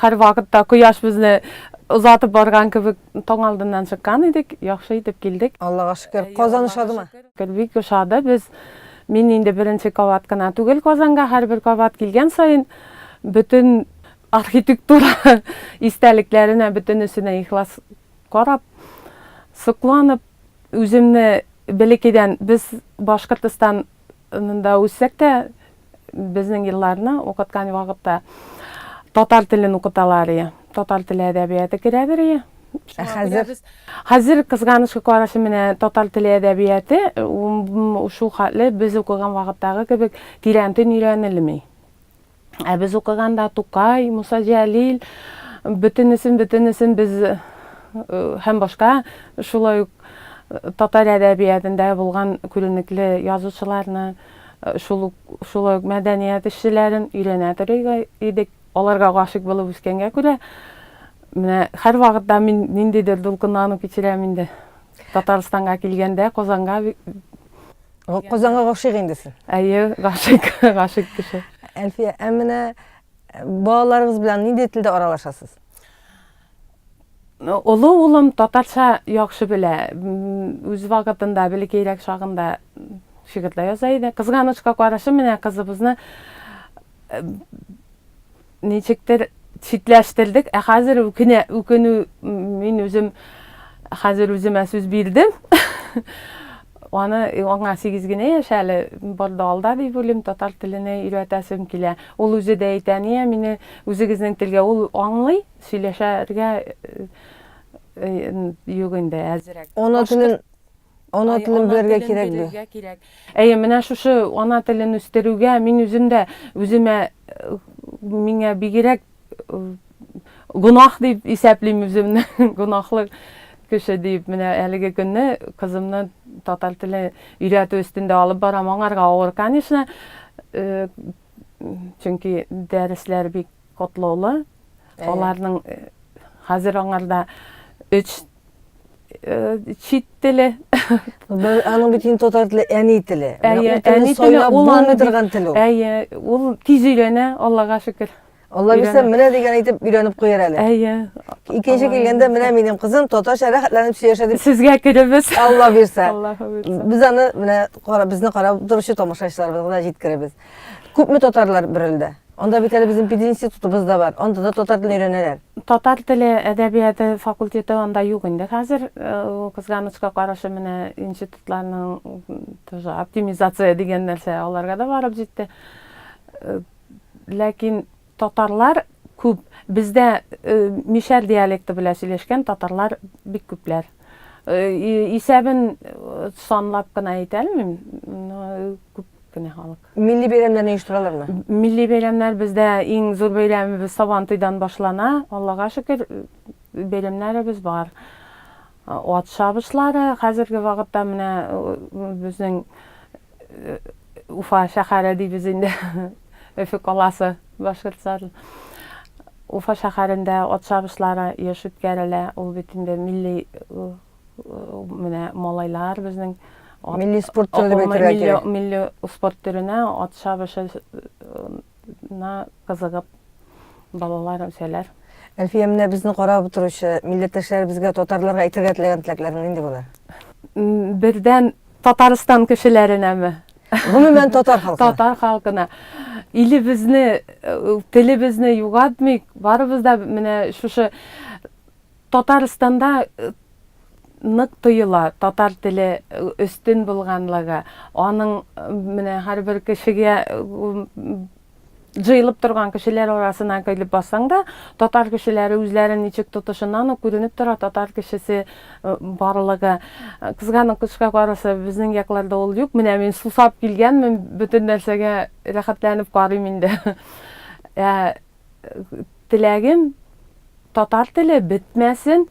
хәр вакытта кояш безне озатып барган кебек таң алдыннан чыккан идек, яхшы итеп килдек. Аллага шөкер, Казан ошадымы? Бик ошады, без мин инде беренче кабат кына түгел Казанга, һәрбер кабат килгән саен бөтен архитектура истәлекләренә бөтенесенә ихлас карап, сокланып, үземне бәләкәйдән без Башкортстан Монда үссәк тә, безнең елларны укыткан вакытта татар телен укыталар ие. Татар теле әдәбияты керәдер ие. Ә хәзер? Хәзер кызганычка карашы менә татар теле әдәбияты шул хәтле без укыган вакыттагы кебек тирәнтен өйрәнелми. Ә без укыганда Тукай, Муса Җәлил, бөтенесен, бөтенесен без э, һәм башка шулай ук э, татар әдәбиятында булган күренекле язучыларны, э, шул шулай ук мәдәният эшчеләрен өйрәнә торыйга идек. Аларга гашык булып үскәнгә күрә, менә һәр вакытта мин ниндидер дулкынлану кичерәм инде. Татарстанга килгәндә, Казанга Казанга гашыйк инде син. Әйе, гашыйк, гашыйк кеше. Әлфия, ә менә э, балаларыгыз белән нинди телдә аралашасыз? Олы улым татарча яхшы белә. Үз вакытында, бәләкәйрәк чагында шигырьләр яза иде. Кызганычка карашы, менә кызыбызны э, ничектер читләштердек, ә хәзер үкенә, үкенү мин үзем хәзер үземә сүз бирдем. аны аңа сигез генә яшь әле барда алда дип уйлыйм татар теленә өйрәтәсем килә ул үзе дә әйтә әния мине үзегезнең телгә ул аңлый сөйләшергә юк инде әзрәк ана телен Ана телен белергә кирәк бу. Әйе, менә шушы ана телен үстерүгә мин үзем дә үземә миңа бигрәк гунах дип исәплим үземне, гунахлы кеше дип. Менә әлеге көнне кызымны татар теле өйрәтү өстендә алып барам. Аңарга авыр, конечно, э, чөнки дәресләр бик котлаулы. Аларның э, хәзер аңарда 3 чит теле. Бер аның бит инде татар теле әни теле. Әйе, әни теле ул аны торган тел ул. Әйе, ул тиз өйрәнә, Аллага шөкер. Алла бирсә, менә дигән әйтеп өйрәнеп куяр әле. Әйе. Икенче килгәндә менә минем кызым татарча рәхәтләнеп сөйләшә дип. Сезгә керебез. Алла бирсә. Аллаһы бирсә. Без аны менә безне карап торучы тамашачыларыбызга да җиткеребез. Күпме татарлар бер илдә? Анда бит әле безнең пединститутыбыз да бар. Анда да татар телен өйрәнәләр. Татар теле әдәбияты факультеты анда юк инде хәзер. Кызганычка каршы, менә институтларның оптимизация дигән нәрсә аларга да барып җитте. Ләкин Татарлар күп. Бездә мишәр диалекты белән сөйләшкән татарлар бик күпләр. Исәбен санлап кына әйтә алмыйм, но күп кенә халык. Милли бәйрәмнәрне оештыралармы? Милли бәйрәмнәр бездә иң зур бәйрәмебез Сабантуйдан башлана. Аллага шөкер, бәйрәмнәребез бар. Ат чабышлары хәзерге вакытта менә безнең Уфа шәһәре дибез инде, Өфе каласы башкортса. Уфа шәһәрендә ат чабышлары еш үткәрелә, ул бит инде милли менә малайлар безнең милли спорт төренә ат чабышы на кызыгып балалар үсәләр. Әлфия, менә безне карап утыручы милләттәшләребезгә, татарларга әйтергә теләгән теләкләрең нинди булыр? Бердән Татарстан кешеләренәме? Гомумән татар халкы. Татар халкына. Илебезне, э, телебезне югатмыйк. Барыбыз да менә шушы Татарстанда нык тоела татар теле өстен булганлыгы, аның менә һәрбер кешегә җыелып торган кешеләр арасына килеп бассаң да, татар кешеләре үзләрен ничек тотышыннан ук күренеп тора татар кешесе барлыгы. Кызганычка каршы, безнең якларда ул юк. Менә мин сусап килгәнмен, бөтен нәрсәгә рәхәтләнеп карыйм инде. теләгем татар теле бетмәсен,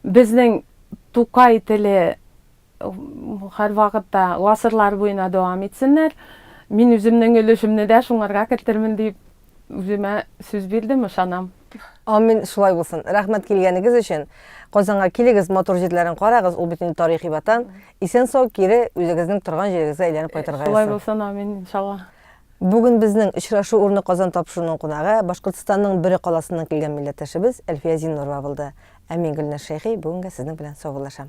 безнең Тукай теле һәрвакытта гасырлар буена дәвам итсеннәр. Мин үземнең өлешемне дә шуңарга кертермен дип үземә сүз бирдем, ышанам. Амин, шулай булсын. Рәхмәт килгәнегез өчен. Казанга килегез, матур җирләрен карагыз, ул бит инде тарихи ватан. Исән-сау кире үзегезнең торган җирегезгә әйләнеп кайтырга язсын. Шулай булсын, амин, иншалла. Бүген безнең очрашу урыны Казан тапшыруның кунагы, Башкортстанның Бөре каласыннан килгән милләттәшебез Әлфия Зиннурова булды. Ә мин, Гөлназ Шәйхи, бүгенгә сезнең белән саубуллашам.